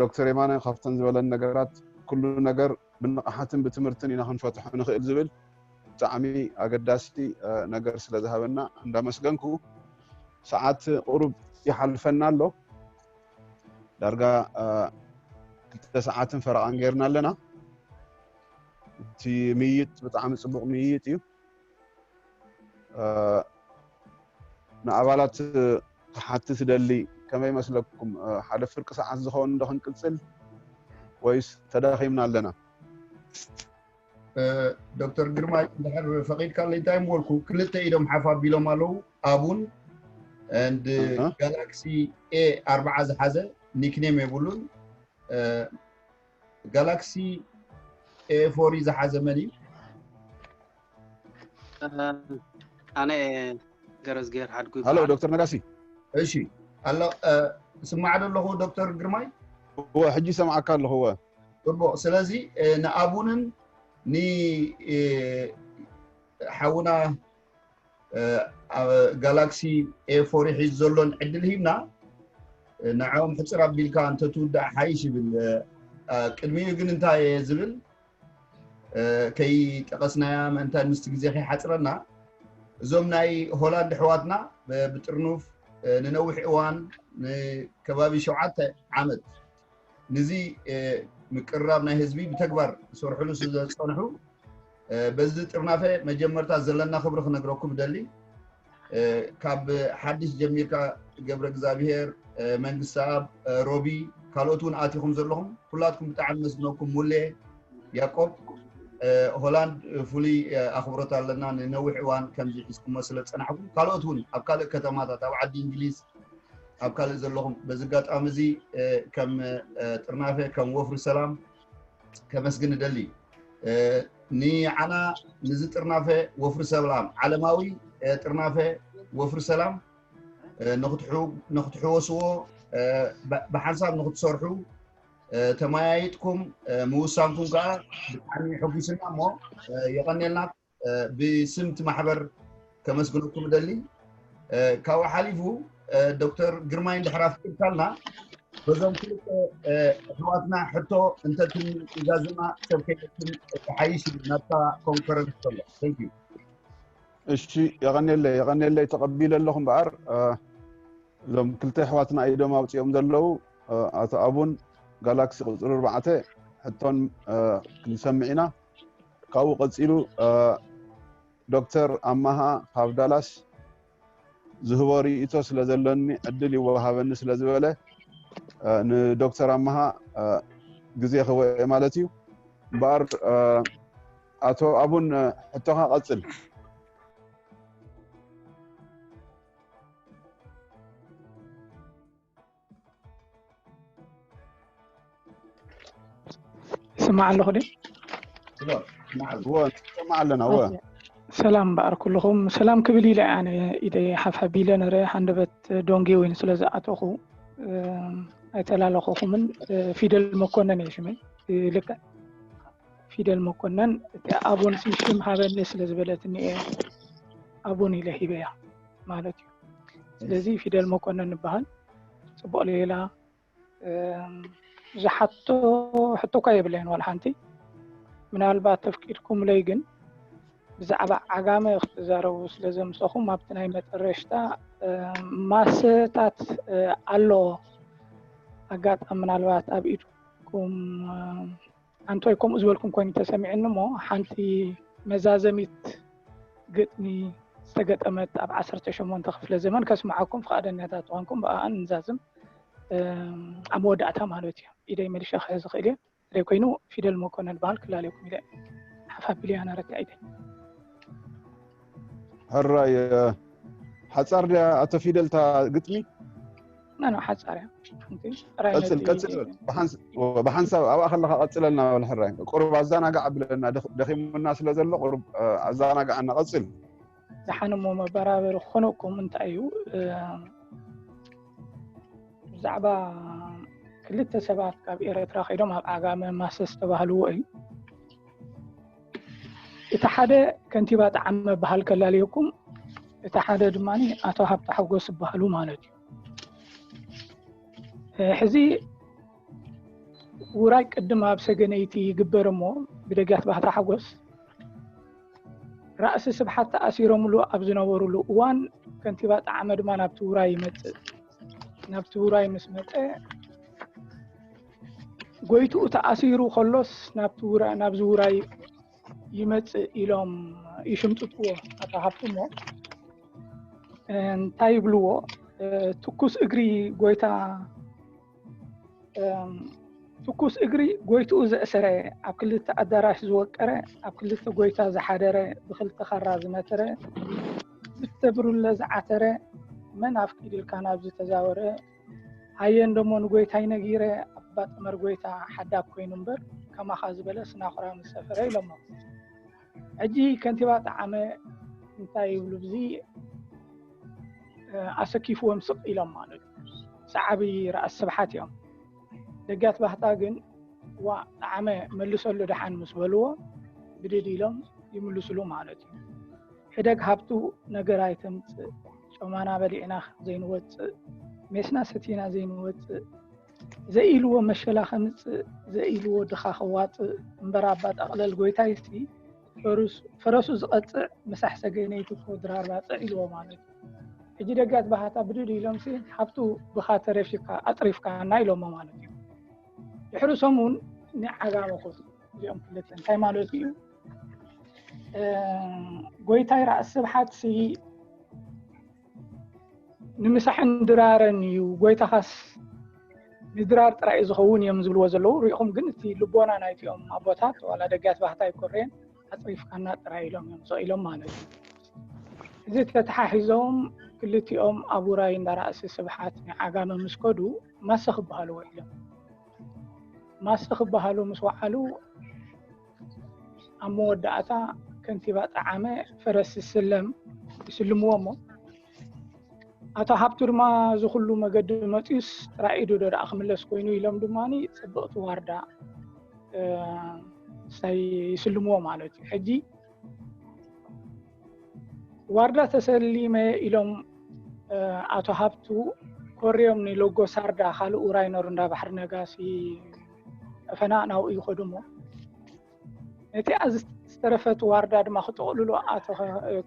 ዶክተር የማነ ካብተን ዝበለን ነገራት ኩሉ ነገር ብንቕሓትን ብትምህርትን ኢና ክንፈትሖ ንኽእል ዝብል ብጣዕሚ ኣገዳሲ ነገር ስለ ዝሃበና እንዳመስገንኩ ሰዓት ቁሩብ ይሓልፈና ኣሎ ዳርጋ ክልተ ሰዓትን ፈረቓን ጌርና ኣለና እቲ ምይይጥ ብጣዕሚ ፅቡቕ ምይይጥ እዩ ንኣባላት ክሓትት ደሊ ከመይ መስለኩም ሓደ ፍርቂ ሰዓት ዝኸውን እንዶ ክንቅጽል ወይስ ተዳኺምና ኣለና ዶክተር ግርማ ድሕር ፈቒድካ ለይ እንታይ ምበልኩ ክልተ ኢዶም ሓፍ ኣቢሎም ኣለዉ ኣቡን ንድ ጋላክሲ ኤ ኣርባዓ ዝሓዘ ኒክኔም የብሉን ጋላክሲ ኤ ፎር እዩ ዝሓዘ መን እዩ? ኣነ ገረዝግሄር ሓድጉ ሃሎ ይበሃል ዶክተር ነጋሲ እሺ ኣሎ እ፣ ስማዕ ዶ ኣለኹ ዶክተር ግርማይ እወ ሕጂ ሰምዓካ ኣለኹ እወ ጽቡቅ ስለዚ እ፣ ንኣቡንን ን እ፣ ሓውና ጋላክሲ ኤ ፎር ሒዙ ዘሎን ዕድል ሂብና ንዕኦም ሕፅር ኣቢልካ እንተትውዳእ ሓይሽ ይብል ቅድሚኡ ግን እንታይ እየ ዝብል ከይጠቐስናያ ምእንታይ ምስቲ ግዜ ከይሓፅረና እዞም ናይ ሆላንድ ኣሕዋትና ብጥርኑፍ ንነዊሕ እዋን ንከባቢ ሸውዓተ ዓመት ንዚ ምቅርራብ ናይ ህዝቢ ብተግባር ዝሰርሕሉ ስለዝፀንሑ በዚ ጥርናፈ መጀመርታ ዘለና ክብሪ ክነግረኩም እደሊ። ካብ ሓድሽ ጀሚርካ ገብረ እግዚኣብሄር፣ መንግስተኣብ፣ ሮቢ ካልኦት እውን ኣቲኹም ዘለኹም ኩላትኩም ብጣዕሚ መስግነኩም። ሙሌ ያቆብ ሆላንድ ፍሉይ ኣኽብሮት ኣለና ንነዊሕ እዋን ከምዚ ሒዝኩሞ ስለ ዝፀናሕኩም። ካልኦት እውን ኣብ ካልእ ከተማታት ኣብ ዓዲ እንግሊዝ ኣብ ካልእ ዘለኹም በዚ ኣጋጣሚ እዚ ከም ጥርናፈ ከም ወፍሪ ሰላም ከመስግን እደሊ ንዓና ንዚ ጥርናፈ ወፍሪ ሰላም ዓለማዊ ጥርናፈ ወፍሪ ሰላም ንክትሕወስዎ ብሓንሳብ ንክትሰርሑ ተመያይጥኩም ምውሳንኩም ከዓ ብጣዕሚ ሕጒስና እሞ የቐኔልና ብስም እቲ ማሕበር ከመስግነኩም እደሊ። ካብኡ ሓሊፉ ዶክተር ግርማይ እንድሕር ኣፍቂድካልና በዞም ክልተ ኣሕዋትና ሕቶ እንተትም ኢዛዝማ ሰብ ከይትም ተሓይሽ እዩ ናብታ ኮንፈረንስ ከሎ ንዩ እሺ የቐኔለይ የቐኔለይ ተቐቢለ ኣለኹ እምበኣር እዞም ክልተ ኣሕዋትና ኢዶም ኣውፅኦም ዘለዉ ኣቶ ኣቡን ጋላክሲ ቁፅሪ ኣርባዕተ ሕቶን ክንሰምዕ ኢና ካብኡ ቀፂሉ ዶክተር ኣማሃ ካብ ዳላስ ዝህቦ ርእይቶ ስለ ዘለኒ ዕድል ይወሃበኒ ስለ ዝበለ ንዶክተር ኣማሃ ግዜ ክህቦ እየ ማለት እዩ እምበኣር ኣቶ ኣቡን ሕቶኻ ቀፅል ይስማዕ ኣለኹ ድዩ? ይሰማዕ ኣለና ወ ሰላም በኣር ኩልኹም ሰላም ክብል ኢለ ኣነ ኢደ ሓፋቢ ኢለ ነረ ሃንደበት ዶንጌ ወይን ስለ ዝኣተኹ ኣይተላለኹኹምን ፊደል መኮነን እየ ሽመይ ልክዕ ፊደል መኮነን እቲ ኣቦን ስምሽም ሃበኒ ስለ ዝበለትኒ እየ ኣቦን ኢለ ሂበያ ማለት እዩ ስለዚ ፊደል መኮነን ንበሃል ፅቡቅ ሌላ ዝሓቶ ሕቶ እኳ የብለይን ዋላ ሓንቲ ምናልባት ተፍቂድኩምለይ ግን ብዛዕባ ዓጋመ ክትዛረቡ ስለ ዘምፀኹም ኣብቲ ናይ መጠረሽታ ማሰታት ኣሎ ኣጋጣሚ ምናልባት ኣብ ኢድኩም ኣንታይ ከምኡ ዝበልኩም ኮይኑ ተሰሚዑኒ እሞ ሓንቲ መዛዘሚት ግጥሚ ዝተገጠመት ኣብ ዓሰርተ ሸሞንተ ክፍለ ዘመን ከስምዓኩም ፍቓደኛታት ተኾንኩም ብኣኣን ንዛዝም ኣብ መወዳእታ ማለት እዩ ኢደይ መልሻ ክሕዝ ዝኽእል እየ ሬ ኮይኑ ፊደል መኮነን በሃል ክላለኩም ኢለ ሓፋ ቢልያና ረታዒተይ ሕራይ ሓጻር ድያ ኣቶ ፊደል እታ ግጥሚ ናና ሓጻር እያ ቀጽል ቀጽል ብሓንሳብ ኣብኣ ከለካ ቀጽለልና በል ሕራይ ቁሩብ ኣዘናጋዕ ኣብለና ደኺሙና ስለ ዘሎ ቁሩብ ኣዘናጋዕና ቀጽል ዝሓንሞ መበራበሪ ክኾነኩም እንታይ እዩ ብዛዕባ ክልተ ሰባት ካብ ኤረትራ ከይዶም ኣብ ዓጋመ ማሰ ዝተባህልዎ እዩ እቲ ሓደ ከንቲባ ጣዕመ በሃል ከላለየኩም እቲ ሓደ ድማ ኣቶ ሃብቲ ሓጎስ ዝበሃሉ ማለት እዩ ሕዚ ውራይ ቅድም ኣብ ሰገነይቲ ይግበር እሞ ብደጋት ባህታ ሓጎስ ራእሲ ስብሓት ተኣሲሮምሉ ኣብ ዝነበሩሉ እዋን ከንቲባ ጣዕመ ድማ ናብቲ ውራይ ይመፅእ ናብቲ ውራይ ምስ መፀ ጎይትኡ ተኣሲሩ ከሎስ ናብዚ ውራይ ይመፅእ ኢሎም ይሽምጥጥዎ ኣቶ ሃፍትሞ እንታይ ይብልዎ ትኩስ እግሪ ጎይታ ትኩስ እግሪ ጎይትኡ ዘእሰረ ኣብ ክልተ ኣዳራሽ ዝወቀረ ኣብ ክልተ ጎይታ ዝሓደረ ብክልተ ካራ ዝመተረ ዝተብርለ ዝዓተረ መን ኣፍቂድልካ ናብዚ ተዛወረ ኣየ እንደሞ ንጎይታይ ነጊረ ኣባ ጥመር ጎይታ ሓዳግ ኮይኑ እምበር ከማኻ ዝበለ ስናኹራ ምስ ሰፈረ ኢሎሞ። ሕጂ ከንቲባ ጠዓመ እንታይ ይብሉ ብዚ ኣሰኪፍዎም ስቅ ኢሎም ማለት ሰዓቢ ርኣስ ስብሓት እዮም። ደጋት ባህታ ግን ዋእ ጠዓመ መልሰሉ ደሓን ምስ በልዎ ብድድ ኢሎም ይምልስሉ ማለት እዩ። ሕደግ ሃብቱ ነገር ኣይተምፅእ ጮማና በሊዕና ዘይንወፅእ ሜስና ሰቲና ዘይንወፅእ ዘኢልዎ መሸላ ከምፅእ ዘኢልዎ ድኻ ከዋፅእ እምበር ኣባ ጠቕለል ጎይታይሲ ፈረሱ ዝቐፅዕ ምሳሕ ሰገነይቲ ኮድራር ባፅዕ ኢልዎ ማለት እዩ ሕጂ ደጋት ባህታ ብድድ ኢሎም ሲ ሓብቱ ብኻ ተረፊካ ኣጥሪፍካ እና ኢሎሞ ማለት እዩ ድሕሪ ሰሙን ንዓጋመ ኮቱ እዚኦም ክልተ እንታይ ማለት እዩ ጎይታይ ራእሲ ስብሓት ሲ ንምሳሕን ድራረን እዩ ጎይታኻስ ንድራር ጥራይ እዩ ዝኸውን እዮም ዝብልዎ ዘለዉ ሪኢኹም ግን እቲ ልቦና ናይትኦም ኣቦታት ዋላ ደጋት ባህታ ይኮረየን ኣፅሪፍካና ጥራይ ኢሎም እዮም ዘኢሎም ማለት እዩ እዚ ተተሓሒዞም ክልቲኦም ኣብ ውራይ እንዳራእሲ ስብሓት ናይ ዓጋመ ምስ ከዱ ማሰ ክበሃሉ ውዒሎም ማሰ ክበሃሉ ምስ ወዓሉ ኣብ መወዳእታ ከንቲባ ጠዓመ ፈረስ ዝስለም ይስልምዎ እሞ ኣቶ ሃብቱ ድማ እዚ ኩሉ መገዲ መፅዩስ ጥራይ ኢዱ ዶ ደኣ ክምለስ ኮይኑ ኢሎም ድማ ፅብቕቲ ዋርዳ ሳይ ይስልምዎ ማለት እዩ ሕጂ ዋርዳ ተሰሊመ ኢሎም ኣቶ ሃብቱ ኮርዮም ንሎጎ ሳርዳ ካልእ ውራይ ነሩ እንዳ ባሕሪ ነጋሲ ዕፈና ናብኡ ይኸዱ እሞ ነቲኣ ዝተረፈት ዋርዳ ድማ ክጠቕልሉ ኣቶ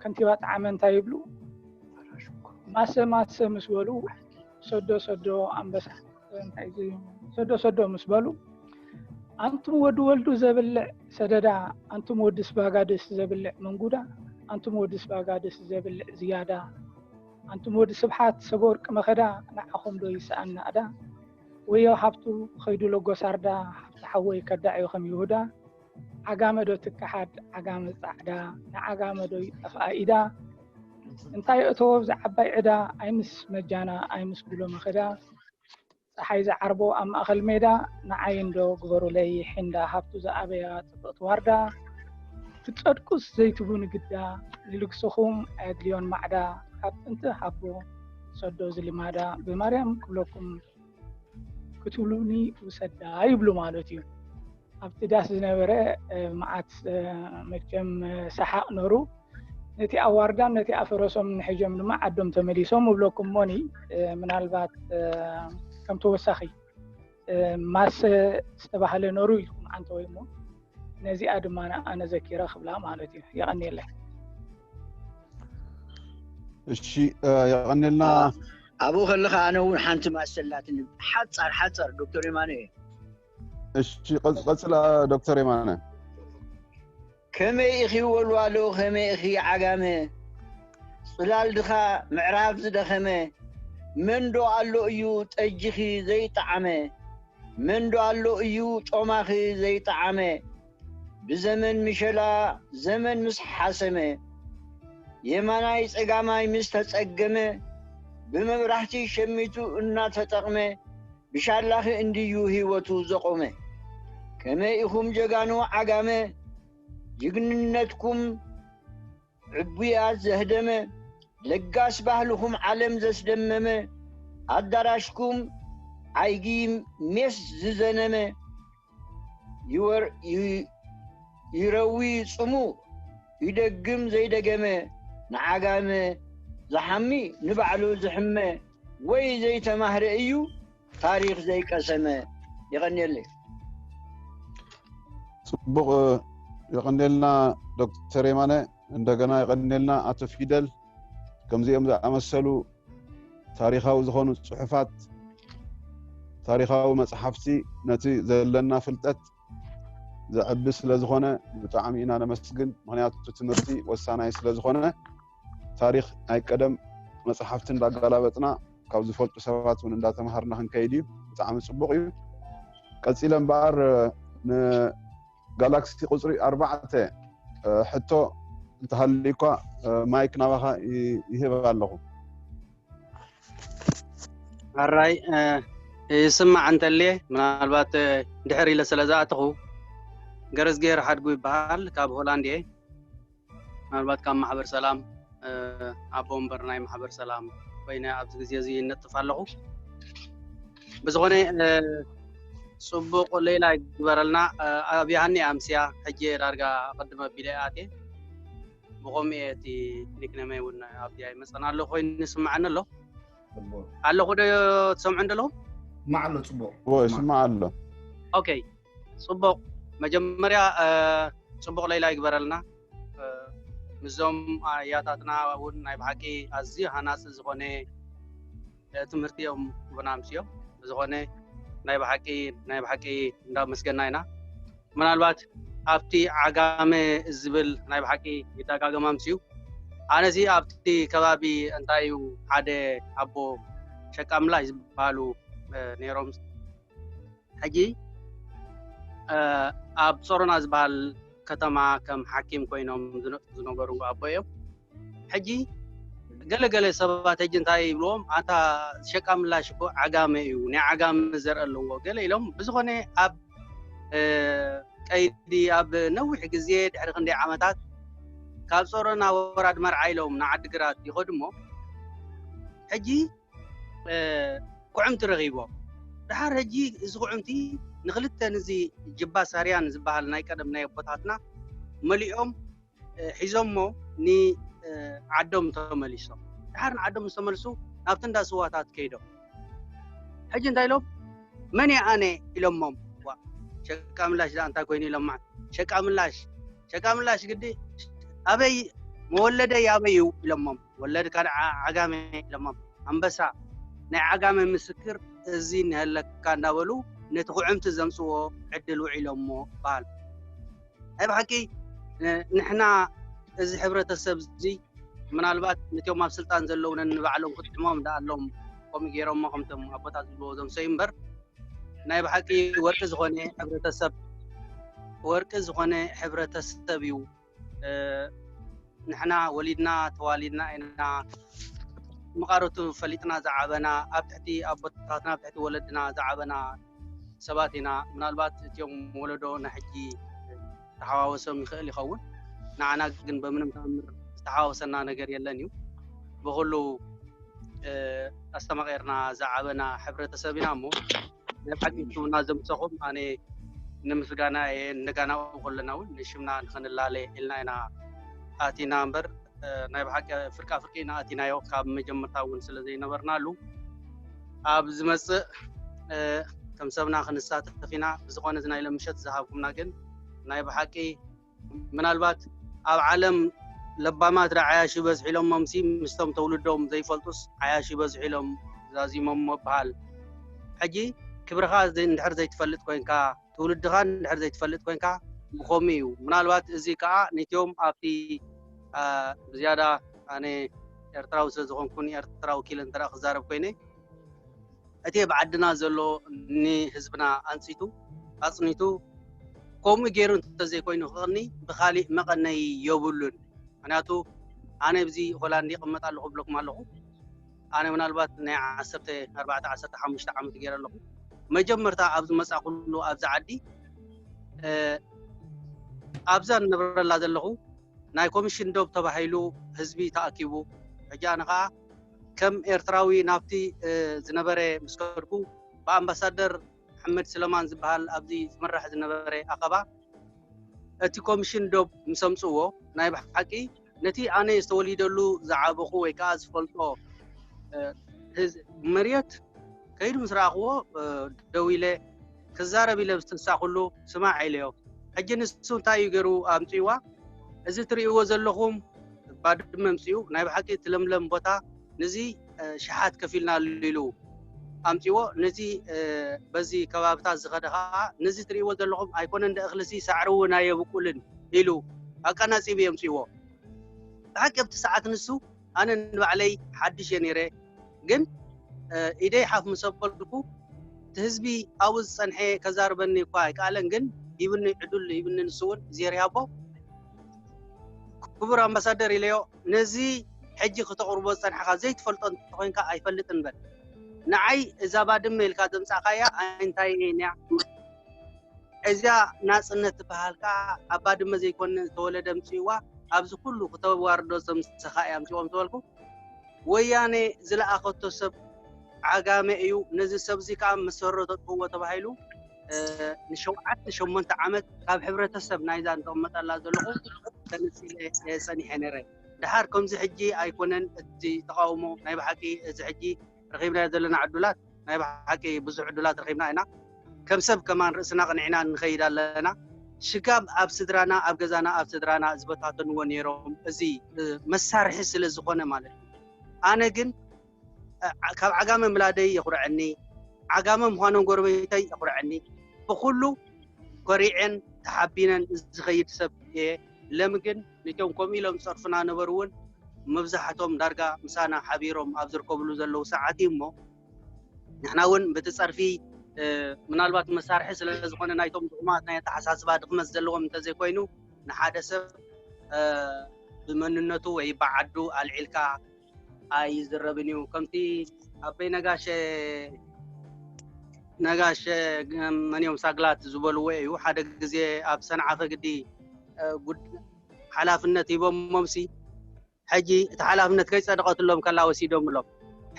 ከንቲባ ጣዕመ እንታይ ይብሉ ማሰ ማሰ ምስ በሉ ሰዶ ሰዶ ኣንበሳ እንታይ እዩ ሰዶ ሰዶ ምስ በሉ ኣንቱም ወዲ ወልዱ ዘብልዕ ሰደዳ ኣንቱም ወዲ ስባጋድስ ዘብልዕ መንጉዳ ኣንቱም ወዲ ስባጋድስ ዘብልዕ ዝያዳ ኣንቱም ወዲ ስብሓት ሰበወርቂ መኸዳ ንዓኹም ዶ ይስኣና እዳ ወዮ ሃብቱ ኸይዱ ሎጎሳርዳ ሃብቲ ሓወይ ከዳዕ ዩ ከም ይሁዳ ዓጋመ ዶ ትከሓድ ዓጋመ ጻዕዳ ንዓጋመ ዶ ይጠፍኣ ኢዳ እንታይ የእተዎ ኣብዚ ዓባይ ዕዳ ኣይምስ መጃና ኣይምስ ጉሎ መኸዳ ጸሓይ ዝዓርቦ ኣብ ማእኸል ሜዳ ንዓይ እንዶ ግበሩለይ ሒንዳ ሃብቱ ዝኣበያ ጽብቕቲ ዋርዳ ክትጸድቁስ ዘይትቡ ንግዳ ንልግስኹም ኣየድልዮን ማዕዳ ካብ ጥንቲ ሃቦ ሰዶ ዝልማዳ ብማርያም ክብለኩም ክትብሉኒ ውሰዳ ይብሉ ማለት እዩ ኣብቲ ዳስ ዝነበረ መዓት መቸም ሰሓቅ ነሩ ነቲ ኣዋርዳም ነቲ ኣፈረሶም ንሕጆም ድማ ዓዶም ተመሊሶም እብለኩም ሞኒ ምናልባት ከም ተወሳኺ ማሰ ዝተባሃለ ነሩ ኢልኩም ዓንተ ወይ ሞ ነዚኣ ድማ ኣነ ዘኪረ ክብላ ማለት እዩ የቀኒየለይ እሺ የቀኔልና ኣብኡ ከለካ ኣነ እውን ሓንቲ ማሰላትኒ ሓፃር ሓፃር ዶክተር የማነ እየ እሺ ቀፅላ ዶክተር የማነ ከመይ ኢኺ ወልዋሎ ከመይ ኢኺ ዓጋመ ፅላል ድኻ ምዕራብ ዝደኸመ መንዶ ኣሎ እዩ ጠጅኺ ዘይጠዓመ መንዶ ኣሎ እዩ ጮማኺ ዘይጠዓመ ብዘመን ምሸላ ዘመን ምስ ሓሰመ፣ የማናይ ጸጋማይ ምስ ተጸገመ፣ ብመብራህቲ ሸሚቱ እናተጠቕመ፣ ብሻላኺ እንድዩ ህይወቱ ዘቖመ። ከመይ ኢኹም ጀጋኑ ዓጋመ፣ ጅግንነትኩም ዕቡያት ዘህደመ ለጋስ ባህልኹም ዓለም ዘስደመመ ኣዳራሽኩም ዓይጊ ሜስ ዝዘነመ ይረዊ ጽሙ ይደግም ዘይደገመ ንዓጋመ ዝሓሚ ንባዕሉ ዝሕመ ወይ ዘይተማህረ እዩ ታሪኽ ዘይቀሰመ የቐንየለይ። ፅቡቅ የቀንየልና ዶክተር የማነ እንደገና የቀንየልና ኣቶ ፊደል ከምዚኦም ዝኣመሰሉ ታሪካዊ ዝኾኑ ፅሑፋት ታሪካዊ መፅሓፍቲ ነቲ ዘለና ፍልጠት ዘዕቢ ስለ ዝኾነ ብጣዕሚ ኢና ነመስግን። ምክንያቱ ትምህርቲ ወሳናይ ስለ ዝኾነ ታሪኽ ናይ ቀደም መፅሓፍቲ እንዳጋላበጥና ካብ ዝፈልጡ ሰባት እውን እንዳተምሃርና ክንከይድ እዩ። ብጣዕሚ ፅቡቅ እዩ። ቀፂለ እምበኣር ንጋላክሲ ቁፅሪ ኣርባዕተ ሕቶ እንተሃልዩኳ ማይክ ናባኻ ይህብ ኣለኹ። ሕራይ ይስማዕ እንተልየ ምናልባት ድሕር ኢለ ስለ ዝኣተኹ ገረዝግሄር ሓድጉ ይበሃል ካብ ሆላንድ እየ ምናልባት ካብ ማሕበር ሰላም ኣቦ ወንበር ናይ ማሕበር ሰላም ኮይነ ኣብዚ ግዜ እዚ ይነጥፍ ኣለኹ ብዝኾነ ፅቡቅ ሌላ ይግበረልና ኣብ ያሃኒ ኣምስያ ሕጂ ዳርጋ ቅድመ ኣቢለ ኣትየ ብከምኡ እየ እቲ ኒክነመይ እውን ኣብቲ ኣይመፀን ኣሎ ኮይኑ ይስማዓኒ ኣሎ ኣለኹ ዶ ትሰምዑ እንደለኹ ማዕ ኣሎ ፅቡቅ ይስማዕ ኣሎ ኦኬ ፅቡቅ መጀመርያ ፅቡቅ ለይላ ይግበረልና ምስዞም ኣያታትና እውን ናይ ብሓቂ ኣዝዩ ሃናፂ ዝኾነ ትምህርቲ እዮም ቡና ኣምስዮም ብዝኾነ ናይ ብሓቂ ናይ ብሓቂ እንዳመስገና ኢና ምናልባት ኣብቲ ዓጋመ ዝብል ናይ ብሓቂ ይደጋገም ኣምስዩ ኣነዚ ኣብቲ ከባቢ እንታይ እዩ ሓደ ኣቦ ሸቃምላ ዝበሃሉ ነይሮም ሕጂ ኣብ ጾሮና ዝበሃል ከተማ ከም ሓኪም ኮይኖም ዝነጥፉ ዝነበሩ ኣቦ እዮም። ሕጂ ገለ ገለ ሰባት ሕጂ እንታይ ይብልዎም ኣታ ሸቃ ምላሽ እኮ ዓጋመ እዩ ናይ ዓጋመ ዘርኢ ኣለዎ ገለ ኢሎም ብዝኾነ ኣብ ቀይዲ ኣብ ነዊሕ ግዜ ድሕሪ ክንደይ ዓመታት ካብ ጾሮና ወራድ መርዓ ኢሎም ንዓዲግራት ይኸዱ እሞ ሕጂ ኩዕምቲ ረኺቦ ድሓር ሕጂ እዚ ኩዕምቲ ንክልተ ንዚ ጅባ ሳርያን ዝበሃል ናይ ቀደም ናይ ኣቦታትና መሊኦም ሒዞሞ ንዓዶም ተመሊሶም ድሓር ንዓዶም ዝተመልሱ ናብቲ እንዳ ስዋታት ከይዶም ሕጂ እንታይ ኢሎም መን እየ ኣነ ኢሎሞም ሸቃ ምላሽ ዳኣ እንታይ ኮይኑ ኢሎም ማለት ሸቃ ምላሽ ሸቃ ምላሽ ግዲ ኣበይ መወለደይ ኣበይ እዩ ኢሎሞም ወለድ ካልዓ ዓጋመ ኢሎሞም ኣንበሳ ናይ ዓጋመ ምስክር እዚ እንሀለካ እንዳበሉ ነቲ ኩዕምቲ ዘምጽዎ ዕድል ውዒሎሞ ባል ናይ ብሓቂ ንሕና እዚ ሕብረተሰብ እዚ ምናልባት ንቲኦም ኣብ ስልጣን ዘለዉ ነንባዕሎም ክጥዕሞም ደኣ ኣሎም ከምኡ ገይሮሞ ከምቶም ኣቦታት ዝብልዎ ዘምሰዩ እምበር ናይ ብሓቂ ወርቂ ዝኾነ ሕብረተሰብ ወርቂ ዝኾነ ሕብረተሰብ እዩ ንሕና ወሊድና ተዋሊድና ኢና መቓረቱ ፈሊጥና ዝዓበና ኣብ ትሕቲ ኣቦታትና ኣብ ትሕቲ ወለድና ዝዓበና ሰባት ኢና ምናልባት እትዮም ወለዶ ናይ ሕጂ ተሓዋወሶም ይኽእል ይኸውን ንዓና ግን በምንም ተኣምር ዝተሓዋወሰና ነገር የለን እዩ ብኩሉ ኣስተማቂርና ዝዓበና ሕብረተሰብ ኢና እሞ ናይ ብሓቂ ሽምና ዘምሰኹም ኣነ ንምስጋና እየ እንደጋናኡ ከለና እውን ንሽምና ንክንላለ ኢልና ኢና ኣቲና እምበር ናይ ብሓቂ ፍርቃ ፍርቂ ኢና ኣቲናዮ ካብ መጀመርታ እውን ስለ ዘይነበርናሉ ኣብ ዝመፅእ ከም ሰብና ክንሳተፍ ኢና ብዝኾነ እዚ ናይ ለምሸት ዝሃብኩምና ግን ናይ ብሓቂ ምናልባት ኣብ ዓለም ለባማት ዶ ዓያሹ ይበዝሑ ኢሎሞምሲ ምስቶም ተውልዶም ዘይፈልጡስ ዓያሹ ይበዝሑ ኢሎም ዛዚሞሞ ይብሃል። ሕጂ ክብርኻ እንድሕር ዘይትፈልጥ ኮንካ ትውልድኻ እንድሕር ዘይትፈልጥ ኮንካ ብኸምኡ እዩ። ምናልባት እዚ ከኣ ነቶም ኣብቲ ብዝያዳ ኣነ ኤርትራዊ ስለ ዝኾንኩን ኤርትራ ወኪለ እንተ ክዛረብ ኮይነ፣ እቲ ኣብ ዓድና ዘሎ ንህዝብና ኣንጺቱ ኣጽኒቱ ከምኡ ገይሩ እንተዘይኮይኑ ክቕኒ ብኻሊእ መቐነዪ የብሉን። ምኽንያቱ ኣነ ኣብዚ ሆላንድ ይቕመጥ ኣለኹ እብለኩም ኣለኹ። ኣነ ምናልባት ናይ ዓሰርተ ኣርባዕተ ዓሰርተ ሓሙሽተ ዓመት ገይረ ኣለኹ። መጀመርታ ኣብ ዝመጻእኩሉ ኣብዚ ዓዲ ኣብዛ ንነብረላ ዘለኹ ናይ ኮሚሽን ዶብ ተባሂሉ ህዝቢ ተኣኪቡ ሕጂ ኣነ ከዓ ከም ኤርትራዊ ናብቲ ዝነበረ ምስ ከድኩ ብኣምባሳደር መሓመድ ስለማን ዝበሃል ኣብዚ ዝምራሕ ዝነበረ ኣኸባ እቲ ኮምሽን ዶብ ምስ ኣምጽዎ ናይ ብሓቂ ነቲ ኣነ ዝተወሊደሉ ዝዓበኹ ወይ ከኣ ዝፈልጦ መርየት ከይዱ ምስ ረኣኽዎ ደው ኢለ ክዛረብ ኢለ ዝተሳኹሉ ስማዕ ኢለዮ ሕጂ ንሱ እንታይ እዩ ገይሩ ኣምጽዋ እዚ ትርእይዎ ዘለኹም ባድመ ኣምጺኡ ናይ ብሓቂ እቲ ለምለም ቦታ ንዚ ሽሓት ከፊልናሉ ኢሉ ኣምጺዎ ነዚ በዚ ከባብታት ዝኸደ ከዓ ነዚ ትርእይዎ ዘለኹም ኣይኮነን ደ እኽልሲ ሳዕሪ እውን ኣየብቁልን ኢሉ ኣቀናጺቡ የምጺዎ ብሓቂ ኣብቲ ሰዓት ንሱ ኣነ ንባዕለይ ሓድሽ እየ ነይረ ግን ኢደይ ሓፍ ምስ ኣበልኩ እቲ ህዝቢ ኣብኡ ዝፀንሐ ከዛርበኒ እኳ ኣይከኣለን ግን ሂብኒ ዕዱል ሂብኒ ንሱ እውን እግዚኣብሔር ይሃቦ ክቡር ኣምባሳደር ኢለዮ ነዚ ሕጂ ክተቕርቦ ዝጸንሕኻ ዘይትፈልጦ እንተኾይንካ ኣይፈልጥን በል ንዓይ እዛ ባድመ ኢልካ ዘምጻእካያ እንታይ እያ እዛ ናጽነት ትበሃል ከዓ ኣብ ባድመ ዘይኮነ ዝተወለደ ምጽእዋ ኣብዚ ኩሉ ክተዋርዶ ዘምሰኻ እያ ምጽዎም ዝበልኩ ወያነ ዝለኣኸቶ ሰብ ዓጋመ እዩ ነዚ ሰብዚ ከዓ መሰረቶ ጥዎ ተባሂሉ ንሸውዓተ ሸሞንተ ዓመት ካብ ሕብረተሰብ ናይዛ ዝቕመጠላ ዘለኹ ተነፂለ እየ ፀኒሐ ነይረ ድሓር ከምዚ ሕጂ ኣይኮነን እቲ ተቃውሞ ናይ ብሓቂ እዚ ሕጂ ረኺብናዮ ዘለና ዕዱላት ናይ ብሓቂ ብዙሕ ዕዱላት ረኺብና ኢና ከም ሰብ ከማን ርእስና ቅንዕና ንኸይድ ኣለና ሽጋብ ኣብ ስድራና ኣብ ገዛና ኣብ ስድራና ዝበታተንዎ ነይሮም እዚ መሳርሒ ስለ ዝኾነ ማለት እዩ ኣነ ግን ካብ ዓጋመ ምላደይ የኹርዐኒ ዓጋመ ምዃኖም ጎረቤተይ የኹርዐኒ ብኹሉ ኮሪዔን ተሓቢነን ዝኸይድ ሰብ እየ ለሚ ግን ንቶም ከምኡ ኢሎም ዝፀርፉና ነበሩ እውን መብዛሕቶም ዳርጋ ምሳና ሓቢሮም ኣብ ዝርከብሉ ዘለዉ ሰዓት እዩ እሞ ንሕና እውን በቲ ፀርፊ ምናልባት መሳርሒ ስለ ዝኾነ ናይቶም ድኹማት ናይ ኣተሓሳስባ ድኽመት ዘለዎም እንተዘይኮይኑ ንሓደ ሰብ ብመንነቱ ወይ ብዓዱ ኣልዒልካ ኣይዝረብን እዩ ከምቲ ኣበይ ነጋሸ ነጋሸ መንዮም ሳግላት ዝበልዎ እዩ ሓደ ግዜ ኣብ ሰንዓ ከግዲ ሓላፍነት ሂቦሞምሲ ሕጂ እቲ ሓላፍነት ከይፀደቐትሎም ከላ ወሲዶምሎም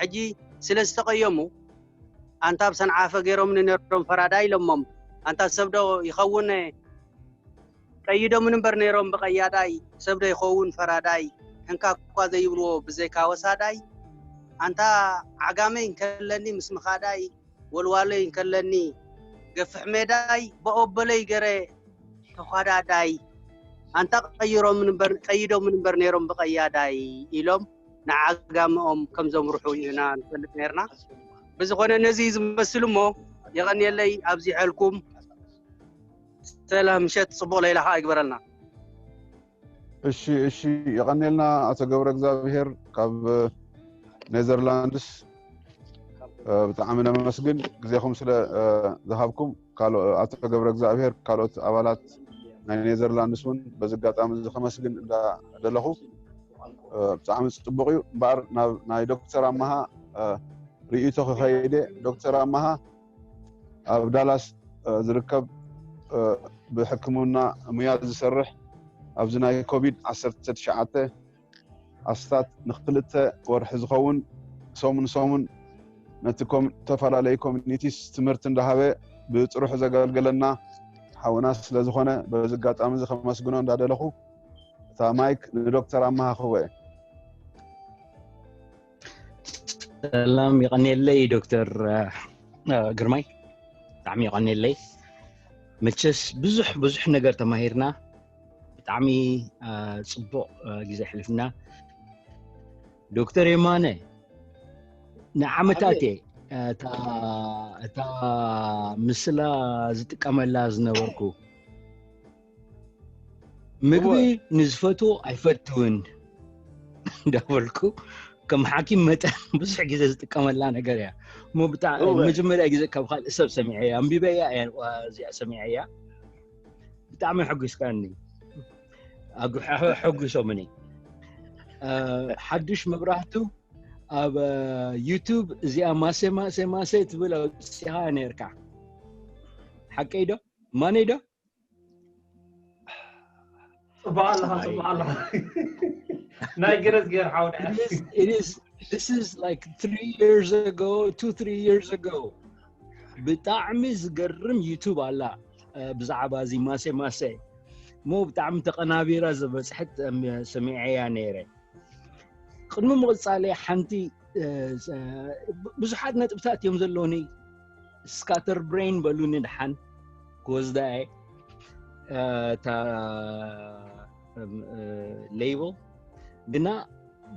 ሕጂ ስለ ዝተቐየሙ ኣንታ ኣብ ሰንዓፈ ገይሮምኒ ነሮም ፈራዳ ኢሎሞም ኣንታ ሰብዶ ይኸውነ ቀይዶሙኒ እምበር ነይሮም ብቀያዳይ ሰብ ዶ ይኸውን ፈራዳይ እንካ እኳ ዘይብልዎ ብዘይካ ወሳዳይ ኣንታ ዓጋመይ እንከለኒ ምስ ምኻዳይ ወልዋሎይ እንከለኒ ገፍሕ ሜዳይ ብኦበለይ ገረ ተዃዳዳይ ኣንታ ቀይሮሙኒ እምበር ቀይዶሙኒ እምበር ነይሮም ብቀያዳይ ኢሎም ንዓጋመኦም ከም ዘምርሑ ኢና ንፈልጥ ነርና ብዝኾነ ነዚ ዝመስል እሞ የቐንየለይ ኣብዚሐልኩም ሰላም ምሸት ጽቡቅ ለይላ ከኣ ይግበረልና። እሺ እሺ የቀኔልና ኣቶ ገብረ እግዚኣብሔር ካብ ኔዘርላንድስ ብጣዕሚ ነመስግን ግዜኹም ስለ ዝሃብኩም ኣቶ ገብረ እግዚኣብሔር ካልኦት ኣባላት ናይ ኔዘርላንድስ እውን በዚ ኣጋጣሚ እዚ ከመስግን እንዳደለኹ ብጣዕሚ ፅቡቅ እዩ እምበኣር ናብ ናይ ዶክተር ኣመሃ ርእይቶ ክኸይደ ዶክተር ኣመሃ ኣብ ዳላስ ዝርከብ ብሕክምና ሙያ ዝሰርሕ ኣብዚ ናይ ኮቪድ ዓሰርተ ትሽዓተ ኣስታት ንክልተ ወርሒ ዝኸውን ሰሙን ሰሙን ነቲ ዝተፈላለዩ ኮሚኒቲስ ትምህርቲ እንዳሃበ ብፅሩሕ ዘገልገለና ሓውና ስለ ዝኾነ በዚ ኣጋጣሚ እዚ ከመስግኖ እንዳደለኹ እታ ማይክ ንዶክተር ኣመሃ ክህቦ እየ ሰላም ይቐኒየለይ ዶክተር ግርማይ ብጣዕሚ ይቐኒየለይ መቸስ ብዙሕ ብዙሕ ነገር ተማሂርና ብጣዕሚ ፅቡቕ ግዜ ሕልፍና ዶክተር የማነ ንዓመታት እየ እታ ምስላ ዝጥቀመላ ዝነበርኩ ምግቢ ንዝፈትዎ ኣይፈትውን እንዳበልኩ ከም ሓኪም መጠን ብዙሕ ግዜ ዝጥቀመላ ነገር እያ እሞ ብጣዕሚ መጀመርያ ግዜ ካብ ካልእ ሰብ ሰሚዐ እያ ኣንቢበያ እያ እዚኣ ሰሚዐ እያ ብጣዕሚ ሕጒስካኒ ሕጒሶምኒ ሓዱሽ መብራህቱ ኣብ ዩቱብ እዚኣ ማሴ ማሴ ማሴ ትብል ኣውፅኻ ነርካ ሓቀይ ዶ ማነይ ዶ This is like three years ago, two, three years ago. ብጣዕሚ ዝገርም ዩቱብ ኣላ ብዛዕባ እዚ ማሴ ማሴ እሞ ብጣዕሚ ተቐናቢራ ዝበፅሐት ሰሚዐያ ነይረ ቅድሚ ምቕፃለ ሓንቲ ብዙሓት ነጥብታት እዮም ዘለውኒ ስካተር ብሬን በሉኒ ድሓን ክወስዳየ እታ ሌብል ግና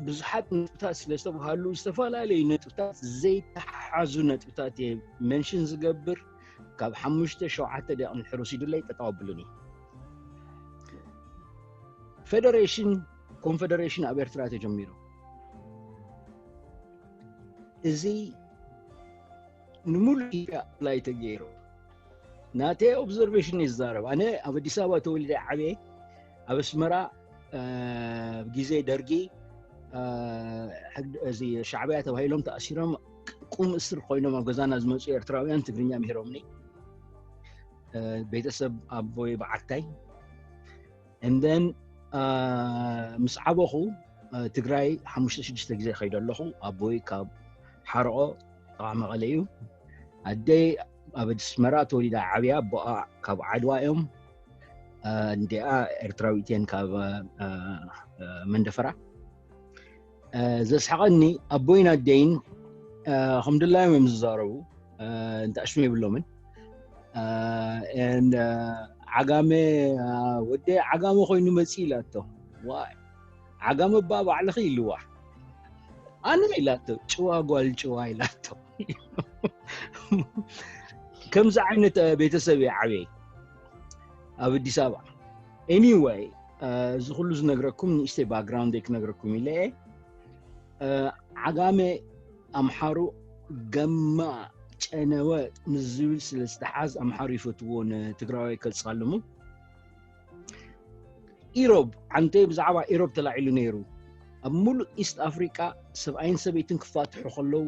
ብዙሓት ነጥብታት ስለ ዝተባሃሉ ዝተፈላለዩ ነጥብታት ዘይተሓሓዙ ነጥብታት እየ መንሽን ዝገብር ካብ ሓሙሽተ ሸውዓተ ደቂ ንድሕር ወሲዱለይ ጠጠው ኣብሉኒ ፌደሬሽን ኮንፌደሬሽን ኣብ ኤርትራ ተጀሚሩ እዚ ንምሉእ ኢትዮጵያ ላይ ተገይሩ ናተይ ኦብዘርቬሽን እዩ ዝዛረብ ኣነ ኣብ ኣዲስ ኣበባ ተወሊደ ዓበየ ኣብ ኣስመራ ግዜ ደርጊ እዚ ሻዕብያ ተባሂሎም ተኣሲሮም ቁም እስር ኮይኖም ኣብ ገዛና ዝመፁ ኤርትራውያን ትግርኛ ምሂሮምኒ ቤተሰብ ኣቦይ በዓታይ and then ምስ ዓበኹ ትግራይ ሓሙሽተ ሽዱሽተ ግዜ ከይደ ኣለኹ ኣቦይ ካብ ሓርቆ ጥቓ መቐለ እዩ ኣደይ ኣብ ኣስመራ ተወሊዳ ዓብያ ኣቦኣ ካብ ዓድዋ እዮም እንዲኣ ኤርትራዊት እየን ካብ መንደፈራ ዘስሓቐኒ ኣቦይን ኣደይን ከም ድላዮም እዮም ዝዛረቡ እንተኣሽሙ የብሎምን ዓጋመ ወደ ዓጋመ ኮይኑ መፂ ኢላቶ ዋይ ዓጋመ እባ ባዕልኺ ኢልዋ ኣነ ኢላቶ ጭዋ ጓል ጭዋ ኢላቶ ከምዚ ዓይነት ቤተሰብ እየ ዓብየይ ኣብ ኣዲስ ኣበባ ኤኒወይ እዚ ኩሉ ዝነግረኩም ንእሽተይ ባክግራውንድ ክነግረኩም ኢለ እየ ዓጋመ ኣምሓሩ ገማ ጨነወ ንዝብል ስለ ዝተሓዝ ኣምሓሩ ይፈትዎ ንትግራዋይ ከፃልሙ ኢሮብ ዓንተ ብዛዕባ ኢሮብ ተላዒሉ ነይሩ ኣብ ሙሉእ ኢስት ኣፍሪቃ ሰብኣይን ሰበይትን ክፋትሑ ከለዉ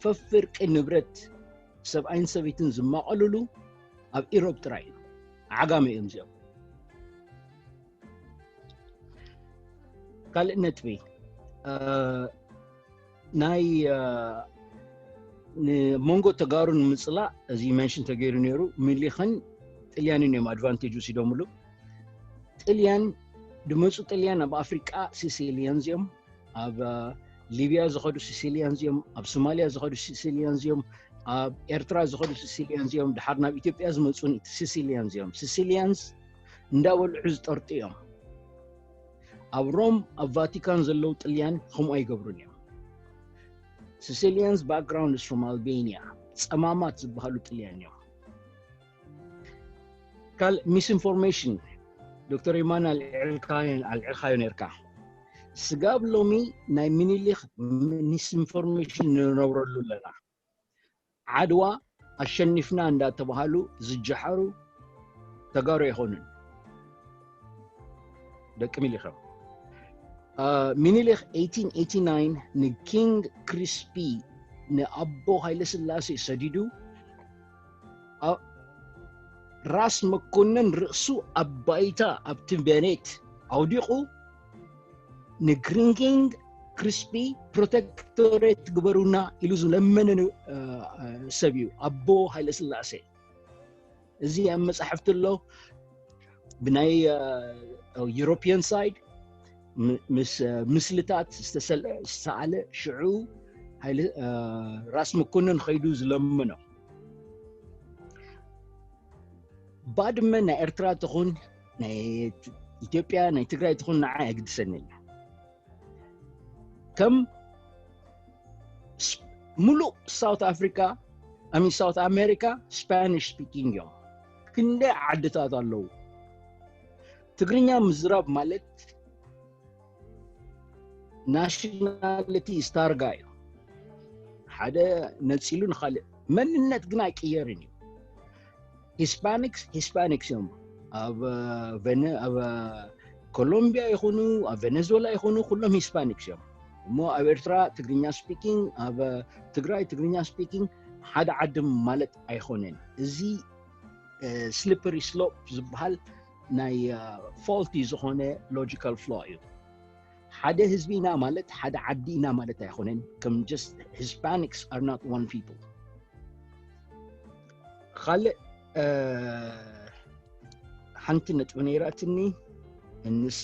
ፈፍርቂ ንብረት ሰብኣይን ሰበይትን ዝማቐልሉ ኣብ ኢሮብ ጥራይ ኢና ዓጋመ እዮም እዚኦም ካልእ ነጥቢ ናይ ንመንጎ ተጋሩ ንምፅላእ እዚ መንሽን ተገይሩ ነይሩ ሚሊክን ጥልያንን እዮም ኣድቫንቴጅ ወሲዶምሉ ጥልያን ድመፁ ጥልያን ኣብ ኣፍሪቃ ሲሲልያን እዚኦም ኣብ ሊብያ ዝኸዱ ሲሲልያንስ እዮም ኣብ ሶማልያ ዝኸዱ ሲሲልያንስ እዮም ኣብ ኤርትራ ዝኸዱ ሲሲልያንስ እዮም ድሓር ናብ ኢትዮጵያ ዝመፁን ሲሲልያንስ እዮም ሲሲልያንስ እንዳበልዑ ዝጠርጡ እዮም ኣብ ሮም ኣብ ቫቲካን ዘለው ጥልያን ከምኡ ኣይገብሩን እዮም ሲሲልያንስ ባክግራውንድስ ፍሮም ኣልቤንያ ፀማማት ዝበሃሉ ጥልያን እዮም ካልእ ሚስኢንፎርሜሽን ዶክተር የማነ ኣልዒልካዮ ነርካ ስጋብ ሎሚ ናይ ምኒልክ ሚስኢንፎርሜሽን ንነብረሉ ኣለና ዓድዋ ኣሸኒፍና እንዳተባሃሉ ዝጀሓሩ ተጋሩ ኣይኮኑን ደቂ ሚኒሊክ እዮም ሚኒሊክ 1889 ንኪንግ ክሪስፒ ንኣቦ ሃይለስላሴ ሰዲዱ ራስ መኮንን ርእሱ ኣብ ባይታ ኣብቲ ቤኔት ኣውዲቑ ንግሪንጊንግ ክሪስፒ ፕሮቴክቶሬት ግበሩና ኢሉ ዝለመነ ሰብ እዩ ኣቦ ሃይለ ስላሴ እዚ ኣብ መፅሓፍቲ ኣሎ ብናይ ዩሮፒያን ሳይድ ምስ ምስልታት ዝተሰኣለ ሽዑ ራስ መኮንን ከይዱ ዝለምኖ ባድመ ናይ ኤርትራ ትኹን ናይ ኢትዮጵያ ናይ ትግራይ ትኹን ንዓ የግድሰኒ እያ ከም ምሉእ ሳውት ኣፍሪካ ኣሚ ሳውት ኣሜሪካ ስፓኒሽ ስፒኪንግ እዮም ክንደይ ዓድታት ኣለዉ ትግርኛ ምዝራብ ማለት ናሽናሊቲ ስታርጋ እዩ ሓደ ነፂሉ ንካልእ መንነት ግን ኣይቅየርን እዩ ሂስፓኒክስ ሂስፓኒክስ እዮም ኣብ ኣብ ኮሎምቢያ ይኹኑ ኣብ ቬነዙዌላ ይኹኑ ኩሎም ሂስፓኒክስ እዮም እሞ ኣብ ኤርትራ ትግርኛ ስፒኪንግ ኣብ ትግራይ ትግርኛ ስፒኪንግ ሓደ ዓዲ ማለት ኣይኮነን እዚ ስሊፐሪ ስሎፕ ዝበሃል ናይ ፎልቲ ዝኾነ ሎጂካል ፍሎ እዩ ሓደ ህዝቢ ኢና ማለት ሓደ ዓዲ ኢና ማለት ኣይኮነን ከም ጀስት ሂስፓኒክስ ኣር ናት ዋን ፒፕል ካልእ ሓንቲ ነጥቢ ነይራትኒ እንሳ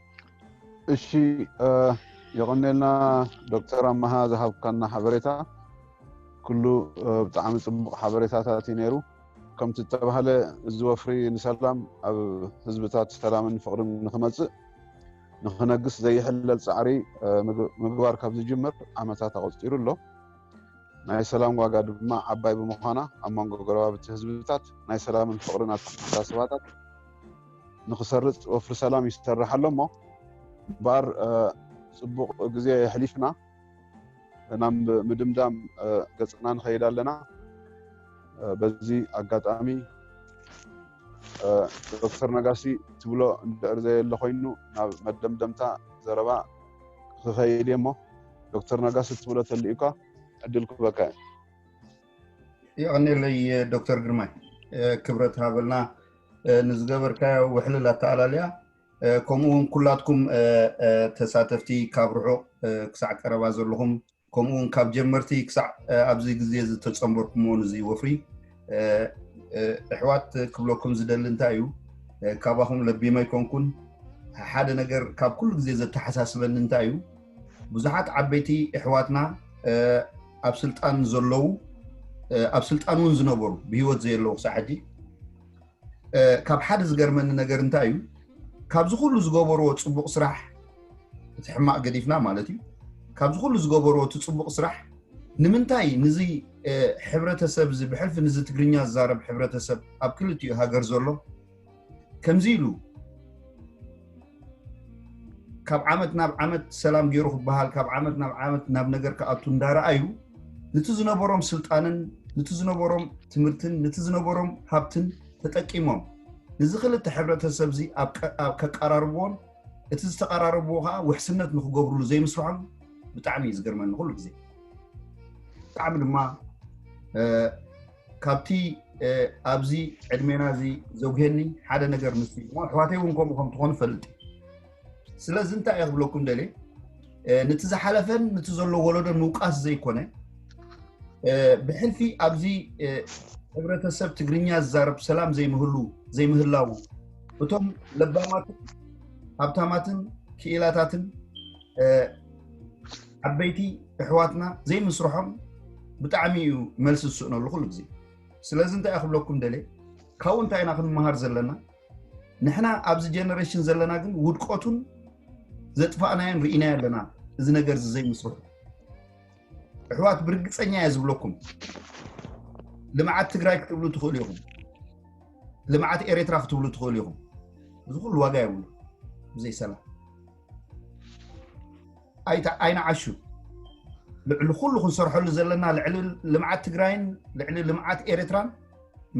እሺ የቀኔልና ዶክተር ኣመሃ ዝሃብካና ሓበሬታ ኩሉ ብጣዕሚ ፅቡቅ ሓበሬታታት እዩ ነይሩ ከምቲ ዝተባሃለ እዚ ወፍሪ ንሰላም ኣብ ህዝብታት ሰላምን ፍቅርን ንክመፅእ ንክነግስ ዘይሕለል ፃዕሪ ምግባር ካብ ዝጅምር ዓመታት ኣቆፂሩ ኣሎ ናይ ሰላም ዋጋ ድማ ዓባይ ብምዃና ኣብ መንጎ ጎረባብቲ ህዝብታት ናይ ሰላምን ፍቅርን ኣተሓሳስባታት ንክሰርፅ ወፍሪ ሰላም ይሰርሕ ኣሎ እሞ እምበኣር ፅቡቕ ግዜ የሕሊፍና ናብ ምድምዳም ገፅና ንኸይድ ኣለና በዚ ኣጋጣሚ ዶክተር ነጋሲ ትብሎ እንድዕር ዘየለ ኮይኑ ናብ መደምደምታ ዘረባ ክኸይድ እየ እሞ ዶክተር ነጋሲ ትብሎ ተልእኳ ዕድል ክበካ እዩ ይቀኒለይ ዶክተር ግርማይ ክብረት ሃበልና ንዝገበርካዮ ውሕልል ኣተኣላልያ ከምኡ እውን ኩላትኩም ተሳተፍቲ ካብ ርሑቕ ክሳዕ ቀረባ ዘለኹም ከምኡ እውን ካብ ጀመርቲ ክሳዕ ኣብዚ ግዜ ዝተፀምበርኩሞ ንዚ ወፍሪ እሕዋት ክብለኩም ዝደሊ እንታይ እዩ ካባኹም ለቢመ ኣይኮንኩን ሓደ ነገር ካብ ኩሉ ግዜ ዘተሓሳስበኒ እንታይ እዩ ብዙሓት ዓበይቲ የሕዋትና ኣብ ስልጣን ዘለዉ ኣብ ስልጣን እውን ዝነበሩ ብሂወት ዘየለዉ ክሳዕ ሕጂ ካብ ሓደ ዝገርመኒ ነገር እንታይ እዩ ካብዚ ኩሉ ዝገበርዎ ፅቡቅ ስራሕ እቲ ሕማቅ ገዲፍና ማለት እዩ ካብዚ ኩሉ ዝገበርዎ እቲ ፅቡቅ ስራሕ ንምንታይ ንዚ ሕብረተሰብ እዚ ብሕልፊ ንዚ ትግርኛ ዝዛረብ ሕብረተሰብ ኣብ ክልቲኡ ሃገር ዘሎ ከምዚ ኢሉ ካብ ዓመት ናብ ዓመት ሰላም ገይሩ ክበሃል ካብ ዓመት ናብ ዓመት ናብ ነገር ክኣቱ እንዳረኣዩ ነቲ ዝነበሮም ስልጣንን ነቲ ዝነበሮም ትምህርትን ነቲ ዝነበሮም ሃብትን ተጠቂሞም ነዚ ክልተ ሕብረተሰብ እዚ ከቀራርብዎን እቲ ዝተቀራረብዎ ከዓ ውሕስነት ንክገብርሉ ዘይምስርሖም ብጣዕሚ እዩ ዝገርመኒ ኩሉ ግዜ ብጣዕሚ ድማ ካብቲ ኣብዚ ዕድሜና እዚ ዘጉሄኒ ሓደ ነገር ምስ እሞ ኣሕዋተይ እውን ከምኡ ከም ትኾኑ ፈልጥ ስለዚ እንታይ እየ ክብለኩም ደል ነቲ ዝሓለፈን ነቲ ዘሎ ወለዶ ምውቃስ ዘይኮነ ብሕልፊ ኣብዚ ሕብረተሰብ ትግርኛ ዝዛረብ ሰላም ዘይምህሉ ዘይምህላው እቶም ለባማትን ሃብታማትን ክኢላታትን ዓበይቲ እሕዋትና ዘይምስርሖም ብጣዕሚ እዩ መልሲ ዝስእነሉ ኩሉ ግዜ ስለዚ እንታይ ክብለኩም ደልየ ካብኡ እንታይ ኢና ክንመሃር ዘለና ንሕና ኣብዚ ጀነሬሽን ዘለና ግን ውድቀቱን ዘጥፋእናዮን ርኢና ኣለና እዚ ነገር እዚ ዘይምስርሑ ኣሕዋት ብርግፀኛ እየ ዝብለኩም ልምዓት ትግራይ ክትብሉ ትኽእሉ ኢኹም ልምዓት ኤርትራ ክትብሉ ትኽእሉ ኢኹም እዚ ኩሉ ዋጋ የብሉ ብዘይ ሰላም ኣይተ ዓይንዓሹ ልዕሊ ኩሉ ክንሰርሐሉ ዘለና ልዕሊ ልምዓት ትግራይን ልዕሊ ልምዓት ኤርትራን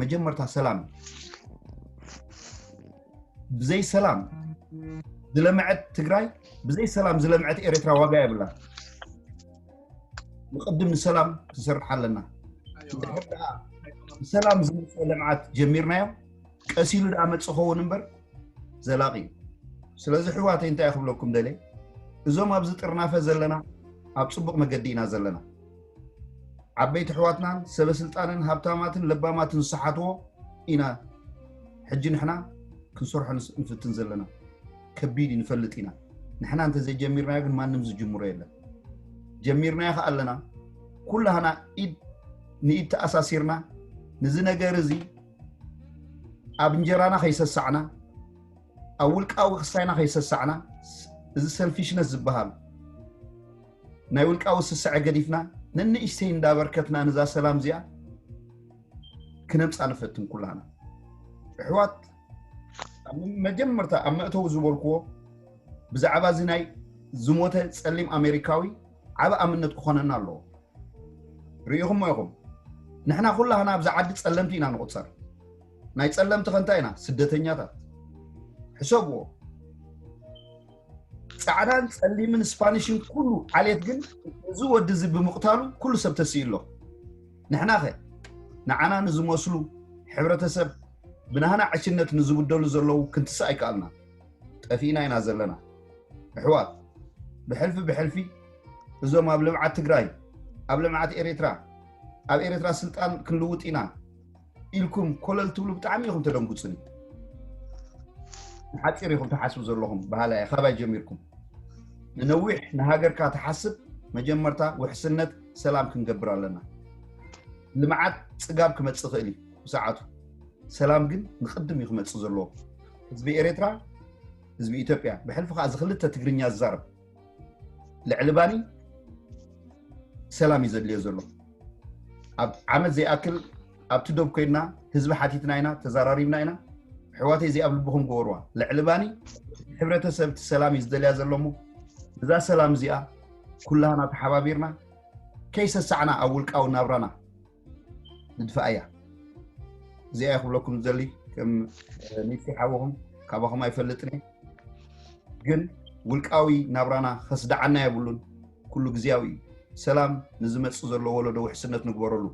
መጀመርታ ሰላም እዩ ብዘይ ሰላም ዝለምዐት ትግራይ ብዘይ ሰላም ዝለምዐት ኤርትራ ዋጋ የብላ ንቅድም ንሰላም ክንሰርሕ ኣለና ሰላም ዝመፀ ልምዓት ጀሚርናዮ ቀሲሉ ድኣ መፅ ኸውን እምበር ዘላቂ እዩ ስለዚ ሕዋተይ እንታይ ክብለኩም ደልየ እዞም ኣብዚ ጥርናፈ ዘለና ኣብ ፅቡቅ መገዲ ኢና ዘለና ዓበይቲ ሕዋትናን ሰበስልጣንን ሃብታማትን ለባማትን ዝሰሓትዎ ኢና ሕጂ ንሕና ክንሰርሖ ንፍትን ዘለና ከቢድ እዩ ንፈልጥ ኢና ንሕና እንተዘይጀሚርናዮ ግን ማንም ዝጅምሮ የለን ጀሚርናዮ ከዓ ኣለና ኩላህና ኢድ ንኢድ ተኣሳሲርና ንዚ ነገር እዚ ኣብ እንጀራና ከይሰሳዕና ኣብ ውልቃዊ ክስታይና ከይሰሳዕና እዚ ሰልፊሽነት ዝበሃል ናይ ውልቃዊ ስስዐ ገዲፍና ነንእሽተይ እንዳበርከትና ንዛ ሰላም እዚኣ ክነምፃ ንፈትን ኩላና ኣሕዋት መጀመርታ ኣብ መእተዊ ዝበልክዎ ብዛዕባ እዚ ናይ ዝሞተ ፀሊም ኣሜሪካዊ ዓቢ ኣብነት ክኾነና ኣለዎ። ርኢኹሞ ኢኹም ንሕና ኩላህና ኣብዛ ዓዲ ጸለምቲ ኢና ንቑጸር። ናይ ጸለምቲ ከ እንታይ ኢና? ስደተኛታት። ሕሰብዎ። ጻዕዳን ጸሊምን ስፓኒሽን ኩሉ ዓሌት ግን እዚ ወዲ እዚ ብምቕታሉ ኩሉ ሰብ ተስኢ ኣሎ። ንሕና ከ ንዓና ንዝመስሉ ሕብረተሰብ ብናህና ዕሽነት ንዝብደሉ ዘለዉ ክንትስእ ኣይከኣልናን። ጠፊእና ኢና ዘለና ኣሕዋት ብሕልፊ ብሕልፊ እዞም ኣብ ልምዓት ትግራይ ኣብ ልምዓት ኤሬትራ ኣብ ኤሬትራ ስልጣን ክንልውጥ ኢና ኢልኩም ኮለል ትብሉ ብጣዕሚ ኢኹም ተደንጉፅኒ ንሓፂር ኢኹም ትሓስቡ ዘለኹም ባህላ እየ ካባይ ጀሚርኩም ንነዊሕ ንሃገርካ ትሓስብ መጀመርታ ውሕስነት ሰላም ክንገብር ኣለና ልምዓት ፅጋብ ክመፅእ ይኽእል እዩ ብሰዓቱ ሰላም ግን ንቅድም እዩ ክመፅእ ዘለዎ ህዝቢ ኤርትራ ህዝቢ ኢትዮጵያ ብሕልፊ ከዓ እዚ ክልተ ትግርኛ ዝዛረብ ልዕሊ ባኒ ሰላም እዩ ዘድልዮ ዘሎ ኣብ ዓመት ዘይኣክል ኣብቲ ዶብ ኮይንና ህዝቢ ሓቲትና ኢና ተዘራሪብና ኢና ኣሕዋተይ እዚኣ ኣብ ልብኹም ግበርዋ ልዕሊ ባኒ ሕብረተሰብ እቲ ሰላም እዩ ዝደልያ ዘሎ እሞ እዛ ሰላም እዚኣ ኩላህና ተሓባቢርና ከይሰሳዕና ኣብ ውልቃዊ ናብራና ንድፋኣ እያ እዚኣ እየ ክብለኩም ዝደሊ ከም ሚኪ ሓውኹም ካባኹም ኣይፈልጥን እየ ግን ውልቃዊ ናብራና ከስደዓና የብሉን ኩሉ ግዜያዊ እዩ ሰላም ንዝመፅእ ዘሎ ወለዶ ውሕስነት ንግበረሉ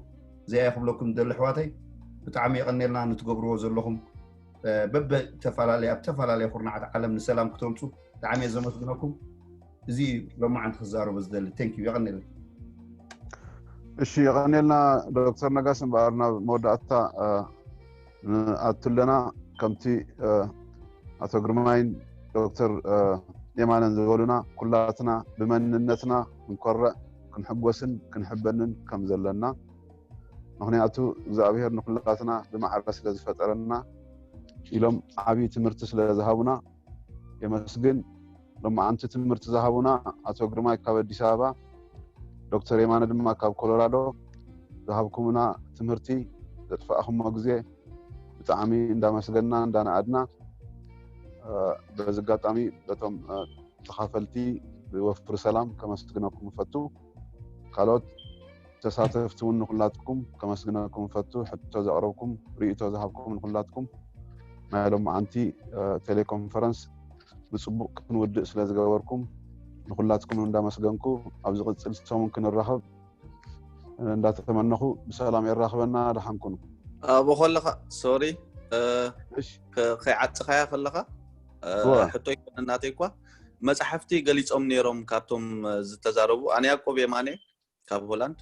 እዚኣ እየ ክብለኩም ዝደሊ ኣሕዋተይ ብጣዕሚ የቐኔልና ንትገብርዎ ዘለኹም በበ ተፈላለየ ኣብ ተፈላለየ ኩርናዓት ዓለም ንሰላም ክተምፁ ብጣዕሚ እየ ዘመስግነኩም እዚ እዩ ሎማዓንቲ ክዛረቦ ዝደሊ ቴንክ ዩ የቀኒለይ እሺ የቀኒልና ዶክተር ነጋሽ እምበኣር ናብ መወዳእታ ንኣቱ ኣለና ከምቲ ኣቶ ግርማይን ዶክተር የማነን ዝበሉና ኩላትና ብመንነትና ክንኮርዕ ክንሕጎስን ክንሕበንን ከም ዘለና ምክንያቱ እግዚኣብሄር ንኩላትና ብማዕረ ስለ ዝፈጠረና ኢሎም ዓብዪ ትምህርቲ ስለ ዝሃቡና የመስግን ሎማዓንቲ ትምህርቲ ዝሃቡና ኣቶ ግርማይ ካብ ኣዲስ ኣበባ ዶክተር የማነ ድማ ካብ ኮሎራዶ ዝሃብኩምና ትምህርቲ ዘጥፋእኹሞ ግዜ ብጣዕሚ እንዳመስገንና እንዳነኣድና በዚ ኣጋጣሚ በቶም ተኻፈልቲ ብወፍሪ ሰላም ከመስግነኩም እፈቱ ካልኦት ተሳተፍቲ እውን ንኩላትኩም ከመስግነኩም እፈቱ ሕቶ ዘቕረብኩም ርእቶ ዝሃብኩም ንኩላትኩም ናይ ሎማዓንቲ ቴሌኮንፈረንስ ብፅቡቅ ክንውድእ ስለዝገበርኩም ንኩላትኩም እንዳመስገንኩ ኣብ ዝቅፅል ሰሙን ክንራኸብ እንዳተመነኹ ብሰላም የራኽበና ደሓን ኩኑ ኣብኡ ከለኻ ሶሪ ከይዓፅኻያ ከለኻ ሕቶ ይኮነ እናተይ እኳ መፅሓፍቲ ገሊፆም ነይሮም ካብቶም ዝተዛረቡ ኣነ ያቆብ የማነ ካብ ሆላንድ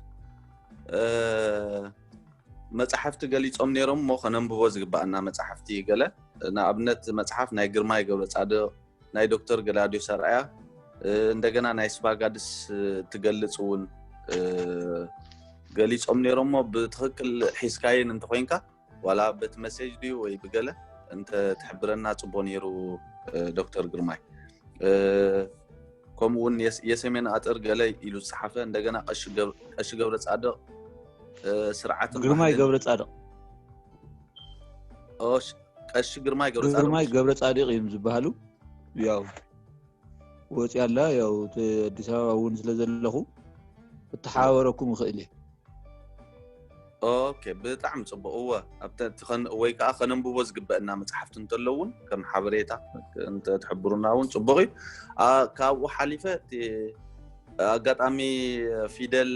መፅሓፍቲ ገሊፆም ነይሮም እሞ ከነንብቦ ዝግባኣና መፅሓፍቲ እዩ ገለ ንኣብነት መፅሓፍ ናይ ግርማይ ገብረ ፃድቕ ናይ ዶክተር ገላድዮስ ኣርኣያ እንደገና ናይ ስፓጋድስ ትገልፅ እውን ገሊፆም ነይሮም እሞ ብትክክል ሒዝካየን እንተኮይንካ ዋላ በቲ መሴጅ ድዩ ወይ ብገለ እንተ ትሕብረና ፅቡቅ ነይሩ ዶክተር ግርማይ ከምኡ እውን የሰሜን ኣጥር ገለ ኢሉ ዝፀሓፈ እንደገና ቀሺ ገብረ ፃድቕ ስርዓት ግርማይ ገብረ ፃድቕ ቀሺ ግርማይ ገብረ ፃድቕ ግርማይ ገብረ ፃድቕ እዮም ዝበሃሉ ያው ወፅያ ኣላ ያው እቲ ኣዲስ ኣበባ እውን ስለ ዘለኹ ክተሓባበረኩም ይኽእል እየ ኦኬ ብጣዕሚ ፅቡቅ እወ ኣብቲ እቲ ከን- ወይ ከዓ ከነንብቦ ዝግበአና መፅሓፍቲ እንተሎ እውን ከም ሓበሬታ እንተትሕብሩና እውን ፅቡቅ እዩ ኣ- ካብኡ ሓሊፈ እቲ ኣጋጣሚ ፊደል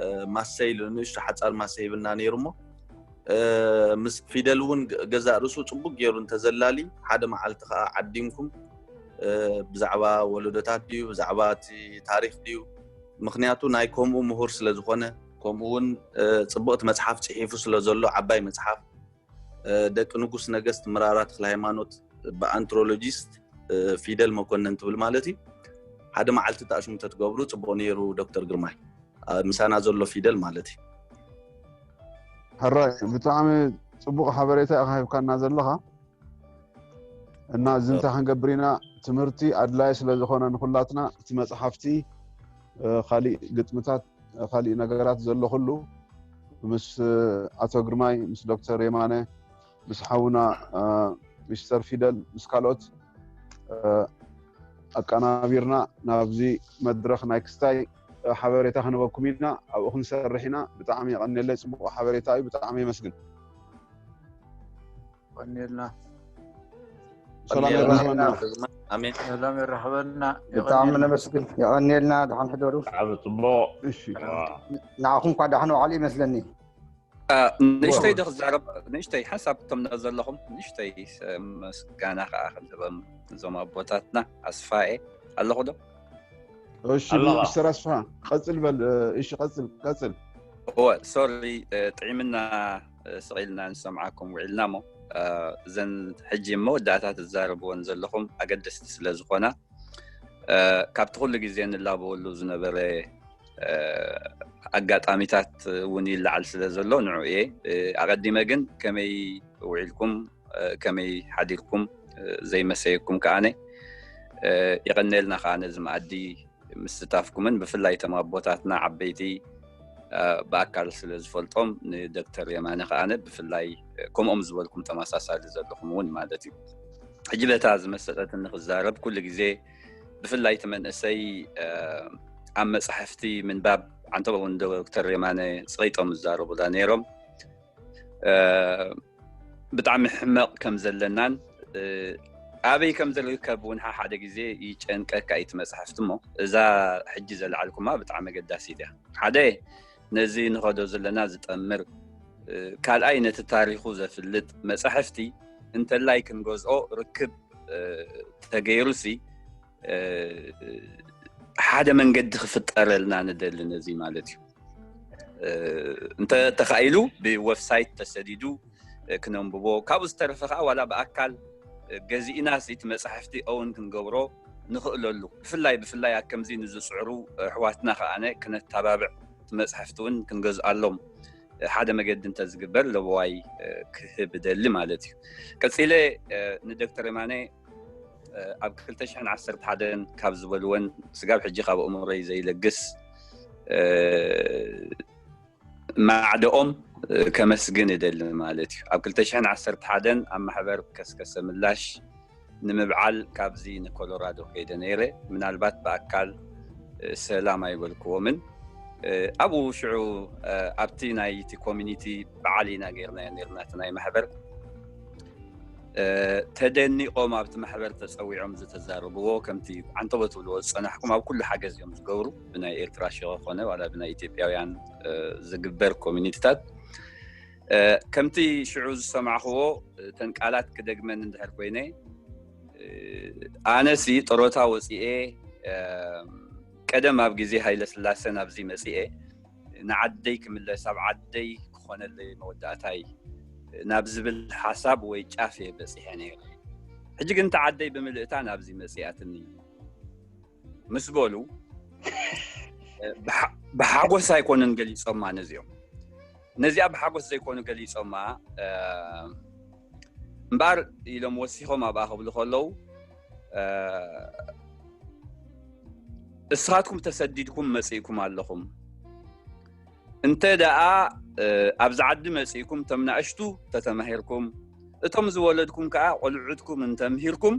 እ፣ ማሰይ ኢሉ ንእሽቶ ሓፃር ማሰ ሂብና ነይሩ እሞ እ፣ ምስ ፊደል እውን ገ- ገዛእ ርእሱ ፅቡቅ ገይሩ እንተዘላሊ ሓደ መዓልቲ ከዓ ዓዲምኩም ብዛዕባ ወለዶታት ድዩ ብዛዕባ እቲ ታሪክ ድዩ ምክንያቱ ናይ ከምኡ ምሁር ስለዝኮነ ከምኡ ውን ፅቡቅቲ መፅሓፍ ፅሒፉ ስለዘሎ ዓባይ መፅሓፍ ደቂ ንጉስ ነገስት ምራራ ተክለ ሃይማኖት ብኣንትሮሎጂስት ፊደል መኮነን ትብል ማለት እዩ ሓደ መዓልቲ ተኣሽሙ ተትገብሩ ፅቡቅ ነይሩ ዶክተር ግርማይ ምሳና ዘሎ ፊደል ማለት እዩ ሕራይ ብጣዕሚ ፅቡቅ ሓበሬታ ኢካ ሂብካና ዘለካ እና እዚ እንታይ ክንገብር ኢና ትምህርቲ ኣድላይ ስለ ዝኾነ ንኩላትና እቲ መፅሓፍቲ ካሊእ ግጥምታት ካሊእ ነገራት ዘሎ ኩሉ ምስ ኣቶ ግርማይ ምስ ዶክተር የማነ ምስ ሓውና ሚስተር ፊደል ምስ ካልኦት ኣቀናቢርና ናብዚ መድረኽ ናይ ክስታይ ሓበሬታ ክንበኩም ኢና ኣብኡ ክንሰርሕ ኢና ብጣዕሚ የቀኒየለይ ፅቡቅ ሓበሬታ እዩ ብጣዕሚ የመስግን ቀኒልና ሰላም የራህበና ኣሜን ሰላም የራህበና ብጣዕሚ ነመስግን የቀኒየልና ድሓን ሕደሩ ብጣዕሚ ፅቡቅ ንዓኹም እኳ ዳሕን ዋዕሉ ይመስለኒ ንእሽተይ ዶ ክዛረብ ንእሽተይ ሓሳብ እቶም ዘለኹም ንእሽተይ ምስጋና ከዓ ክንህበም እዞም ኣቦታትና ኣስፋኤ ኣለኹ ዶ እሺ ሚስተር ኣስፋ ቀፅል በል እሺ ቀፅል ቀፅል እወ ሶሪ ጥዒምና ስቂልና ንሰምዓኩም ውዒልና እሞ እዘን ሕጂ መወዳእታ ትዛረብዎን ዘለኹም ኣገደስቲ ስለ ዝኾና ካብቲ ኩሉ ግዜ ንላበወሉ ዝነበረ ኣጋጣሚታት እውን ይለዓል ስለ ዘሎ ንዑ እየ ኣቀዲመ ግን ከመይ ውዒልኩም ከመይ ሓዲርኩም ዘይመሰየኩም ከዓነ ይቀነልና ከዓ ነዚ መኣዲ ምስታፍኩምን ብፍላይ ቶም ኣቦታትና ዓበይቲ ብኣካል ስለ ዝፈልጦም ንዶክተር የማነ ከዓነ ብፍላይ ከምኦም ዝበልኩም ተመሳሳሊ ዘለኹም እውን ማለት እዩ ሕጂ በታ ዝመሰጠትኒ ክዛረብ ኩሉ ግዜ ብፍላይ እቲ መንእሰይ ኣብ መፅሕፍቲ ምንባብ ዓንተበ እውን ዶክተር የማነ ፀይጦም ዝዛረቡላ ነይሮም ብጣዕሚ ሕመቕ ከም ዘለናን ኣበይ ከም ዝርከብ እውን ሓደ ግዜ ይጨንቀካ እዩ እቲ መፅሕፍቲ እሞ እዛ ሕጂ ዘለዓልኩማ ብጣዕሚ ኣገዳሲ እያ ሓደ ነዚ ንኸዶ ዘለና ዝጠምር ካልኣይ ነቲ ታሪኹ ዘፍልጥ መፃሕፍቲ እንተላይ ክንገዝኦ ርክብ ተገይሩ ሲ ሓደ መንገዲ ክፍጠረልና ንደሊ ነዚ ማለት እዩ እንተተካኢሉ ብወብሳይት ተሰዲዱ ክነንብቦ ካብኡ ዝተረፈ ከዓ ዋላ ብኣካል ገዚእና እቲ መፃሕፍቲ እውን ክንገብሮ ንኽእለሉ ብፍላይ ብፍላይ ኣብ ከምዚ ንዝፅዕሩ ኣሕዋትና ከዓ ክነተባብዕ እቲ መፅሕፍቲ እውን ክንገዝኣሎም ሓደ መገዲ እንተዝግበር ለበዋይ ክህብ ደሊ ማለት እዩ ቀፂለ ንዶክተር የማነ ኣብ 211 ካብ ዝበልወን ስጋብ ሕጂ ካብ እምሮይ ዘይለግስ ማዕደኦም ከመስግን እደሊ ማለት እዩ ኣብ 201 ኣብ ማሕበር ከስከሰ ምላሽ ንምብዓል ካብዚ ንኮሎራዶ ከይደ ነይረ ምናልባት ብኣካል ሰላም ኣይበልክዎምን ኣብኡ ሽዑ ኣብቲ ናይቲ ኮሚኒቲ በዓል ኢና ገርናዮ ነርና እቲ ናይ ማሕበር ተደኒቆም ኣብቲ ማሕበር ተፀዊዖም ዝተዛረብዎ ከምቲ ዓንተቦ ትብልዎ ዝፀናሕኩም ኣብ ኩሉ ሓገዝ እዮም ዝገብሩ ብናይ ኤርትራ ሸ ኮነ ዋላ ብናይ ኢትዮጵያውያን ዝግበር ኮሚኒቲታት ከምቲ ሽዑ ዝሰማዕክዎ ተን ቃላት ክደግመን እንድሕር ኮይነ ኣነሲ ጥሮታ ወፅኤ ቀደም ኣብ ግዜ ሃይለ ስላሰ ናብዚ መፅኤ ንዓደይ ክምለስ ኣብ ዓደይ ክኾነለይ መወዳእታይ ናብ ዝብል ሓሳብ ወይ ጫፍ እየ በፂሐ ነይረ ሕጂ ግን እተ ዓደይ ብምልእታ ናብዚ መፅኣትኒ ምስ በሉ ብሓጎስ ኣይኮነን ገሊፆማ ነዚኦም ነዚኣ ብሓጎስ ዘይኮኑ ገሊፆማ እምበኣር ኢሎም ወሲኾም ኣብኣ ክብሉ ከለዉ እስኻትኩም ተሰዲድኩም መፅእኩም ኣለኹም እንተ ደኣ ኣብዚ ዓዲ መፅእኩም እቶም ናእሽቱ ተተማሂርኩም እቶም ዝወለድኩም ከዓ ቆልዑትኩም እንተምሂርኩም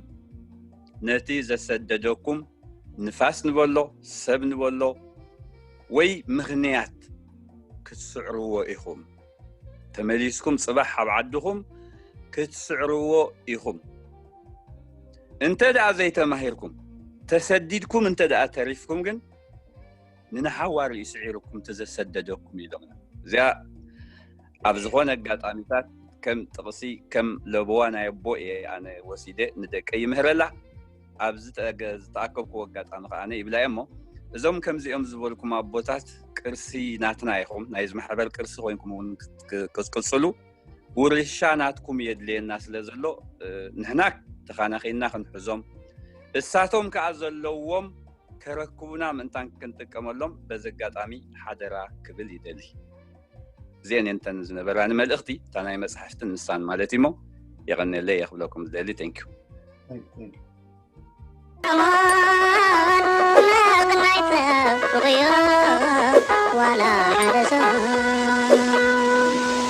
ነቲ ዘሰደደኩም ንፋስ ንበሎ ሰብ ንበሎ ወይ ምኽንያት ክትስዕርዎ ኢኹም ተመሊስኩም ፅባሕ ኣብ ዓድኹም ክትስዕርዎ ኢኹም እንተ ደኣ ዘይተማሂርኩም ተሰዲድኩም እንተ ደኣ ተሪፍኩም ግን ንንሓዋሩ እዩ ስዒሩኩም ተዘሰደደኩም ኢሎምና እዚኣ ኣብ ዝኾነ ኣጋጣሚታት ከም ጥቕሲ ከም ለበዋ ናይ ኣቦ እየ ኣነ ወሲደ ንደቀ ይምህረላ ኣብ ዝተኣከብኩዎ ኣጋጣሚ ከዓ ነ ይብላ እሞ እዞም ከምዚኦም ዝበልኩም ኣቦታት ቅርሲ ናትና ይኹም ናይ ዝማሕበር ቅርሲ ኮይንኩም እውን ክፅቅፅሉ ውርሻ ናትኩም የድልየና ስለ ዘሎ ንሕና ተኻናኺና ክንሕዞም እሳቶም ከዓ ዘለዎም ከረክቡና ምእንታን ክንጥቀመሎም በዚ ኣጋጣሚ ሓደራ ክብል ይደሊ እዚአን እየን እተን ዝነበራኒ መልእኽቲ እታ ናይ መፅሓፍትን ንሳን ማለት እዩሞ የቐነለይ እየ ክብለኩም ዝደሊ ቴንኪዩ ዋላ ሓደ ሰብ